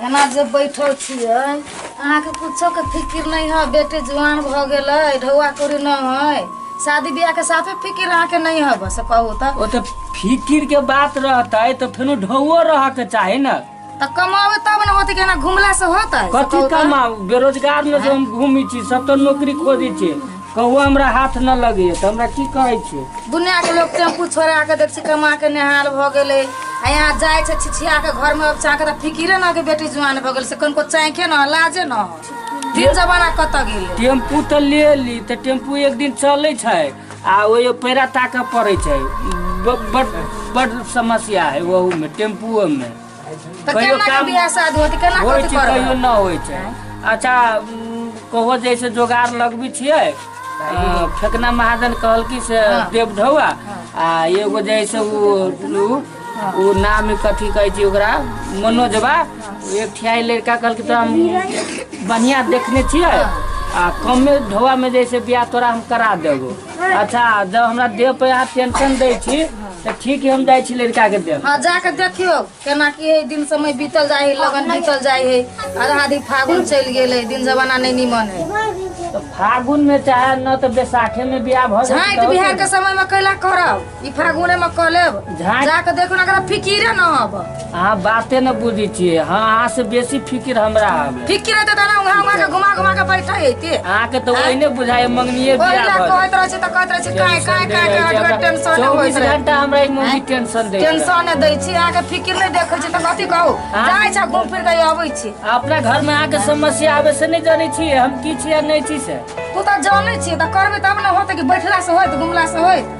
एना जे बैठल छियै अहाँके कुछोके फिकिर नहि है बेटे जुआन भऽ गेलै ढौआ कौड़ी नहि है शादी बियाहके साफे फिकिर अहाँके नहि है बस कहू तऽ ओ तऽ फिकिर के बात रहतै तऽ फेनो ढौओ रह के चाही ने तऽ कमाबै तब ने होतै कि एना घुमला से होतै कथी कमाउ बेरोजगार में जे हम घूमी छी सब तऽ नौकरी खोजी छी कहुआ हमरा हाथ न लगे तऽ हमरा की कहै छै दुनिया के लोग टेम्पू छोड़ा के देख छी कमा के नेहाल भ गेले आ यहाँ जाए छै छिछिया के घर में चाह के त फिकिरे न के बेटी जुआन भ गेल से कनको चाहे न लाजे न हो। दिन जमाना कत गेले टेम्पू तऽ ले ली तऽ टेम्पू एक दिन चलै छै आ ओहि पैरा ताकऽ पड़ै छै ब- बड बड समस्या है वहू में टेम्पुओ में तऽ कहियो केना के काम बियाह शादी होतै केना होइ कथी छै करबै कहियो न होइ छै अच्छा उम, कहो जैसे जोगाड़ लगबी छियै अ, फेकना महाजन कहल कि से देव ढौआ आ एगो जैसे उ उ- उ नाम कथी कहै छै ओकरा मनोजबा एक ठियाई लड़का कहल कि तो हम बढ़िया देखने छियै आ कमे ढौआ में जैसे बियाह तोरा हम करा देबो अच्छा जब हमरा देह पे अहाँ टेंशन दै छी तऽ ठीक है हम जाइ छी लड़का के देह हाँ जाके देखियो केना की है दिन समय बीतल जाए है लगन बीतल जाए है आधा आधी फागुन चल गेल है दिन जमाना नहीं निमन है तऽ फागुन में चाहे न तऽ बैसाखे में बियाह भऽ झाँटि बिहार के समय में कैला करब ई फागुने में कह लेब झाँट। जाके देखो ना अगर फिकिरे न हब अहाँ बाते न बुझै छियै हाँ अहाँ से बेसी फिकिर हमरा हवे फिकिर रहते तना उहाँ उहाँ के घुमा घुमा के बैठा हेते अहाँके तऽ ओहिने बुझाइ मंगनिये ओहि बियाह ला भऽ कहैत रहै छै तऽ कहैत रहै छै काहे काहे काहे के हटगर टेंशन होइत चौबीस रहै घंटा हमरा ई मौगी टेंशन दै छै। टेंशन दै छी अहाँके फिकिर नहि देखै छी तऽ कथी कहू हाँ। जाइ छै घूम फिर के अबै छी अपना घर में अहाँके समस्या आबे से नहि जानै छियै हम की छियै आ नहि छी से तू तऽ जानै छी तऽ करबै तब ने होतै कि बैठला से होइत घुमला से होइत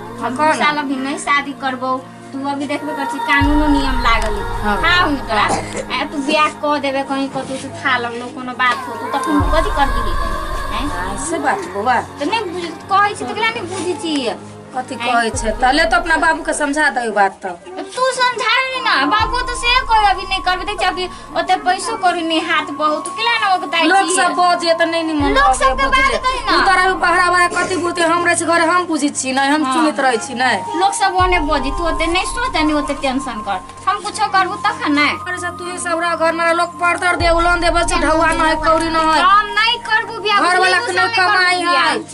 हम दू साल अभी नहीं शादी करबो तू अभी देखबे कर छी कानूनो नियम लागल हाँ। है। हाँ उनका आ तू ब्याह क देबे कहीं कतौ से था लगलो कोनो बात हो तू तखन कथी कर दिही हैं? हाँ, से बात बौआ तो नहीं बुझ कहै छी तकरा नहीं बुझी छी कथी कहै छै तले तो अपना बाबू के समझा दे बात तो तू समझा ना बाबू तो से कोई अभी नहीं करबे देख छी अभी ओते पैसो कौड़ी नहीं हाथ बहुत किला ना ओगताई लोग सब बजे त नहीं निमन लोग सब के बात कही ना। तू तरह बहरा बहरा कथी बोलते हम रहे छी घर हम पूछी छी नहीं हम सुनत रहे छी नहीं लोग सब ओने बोजी तू ओते नहीं सोच नहीं ओते टेंशन कर हम कुछो करबू तखन ना अरे सब तू सब रह घर में लोग पड़तर दे उलन दे बस ढौआ नहीं कौड़ी नहीं हम नहीं करबू बियाह घर वाला बुझलियै, के तू सब नहीं नहीं करबू कमाई बियाह। है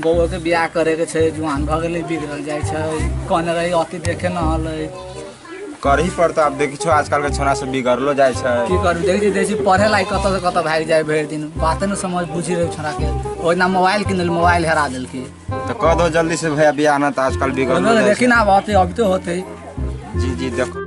बौओके बियाह करैके छै जुआन भऽ गेलै बिगड़ल जाइ छै कहने रही अति देखे न हलै करही पड़तौ आब देखै छौ आजकलके छौड़ा सब बिगड़लो जाइ छै की करू देखै छी देखै छी पढ़े लायक कतऽ से कतऽ भागि जाइ भरि दिन बाते ने समझ बुझि रहै छोड़ाके ओहिना मोबाइल किनल मोबाइल हेरा देलकै तऽ कह दो जल्दी से भैया बियाह ना तऽ आजकल बिगड़लो बोलो जाइ देखी छै ना अब अति अभी तो होते जी जी देखो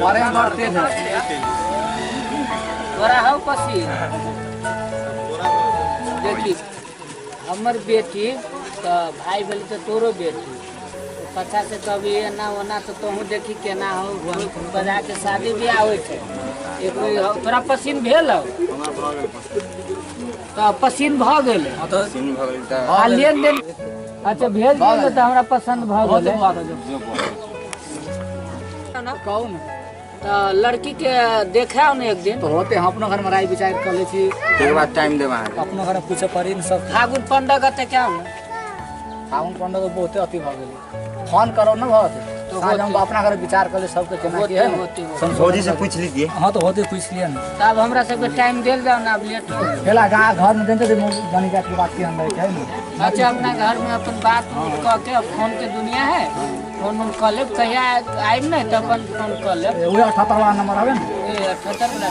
बड़े बढ़ते हैं तोरा हौ पसी देखी हमर बेटी तऽ भाय भेल तऽ तोरो बेटी पता से कभी एना ओना तऽ तोहूँ देखी केना हौ बजा के शादी ब्याह होइ छै एगो हौ- तोरा पसीन भेल हौ तऽ पसीन भऽ गेल सिन भऽ गेल तऽ आ लेन देन अच्छा भेज दियौ ने तऽ हमरा पसन्द भऽ गेल कहू ने तऽ लड़की के देखाओ ने एक दिन होते हम अपना घर में राय विचार कर ले छी एक बार टाइम देब अहाँके अपना घर में पूछे पड़ी ने सब फागुन पंडा गते क्या हो फागुन पंडा तो बहुते अति भऽ गेल फोन करो ना बहुत तो आज हम अपना घर विचार कर ले सबके केना की है ना संसोधन भौजी से कर- पूछ लीजिए हाँ तो होते पूछ लिया ना तो अब हमरा सबके टाइम देल जाओ ना अब लेट हो गइल। पहला गाँव घर में देते थे जानी जात की बात की हम रहे है ना अच्छा अपना घर में अपन बात उत कह के अब फोन के दुनिया है फोन उन कर लेब कहिया आइब ना तो अपन फोन कर लेब ये अठहत्तर वाला नंबर है ना ये अठहत्तर वाला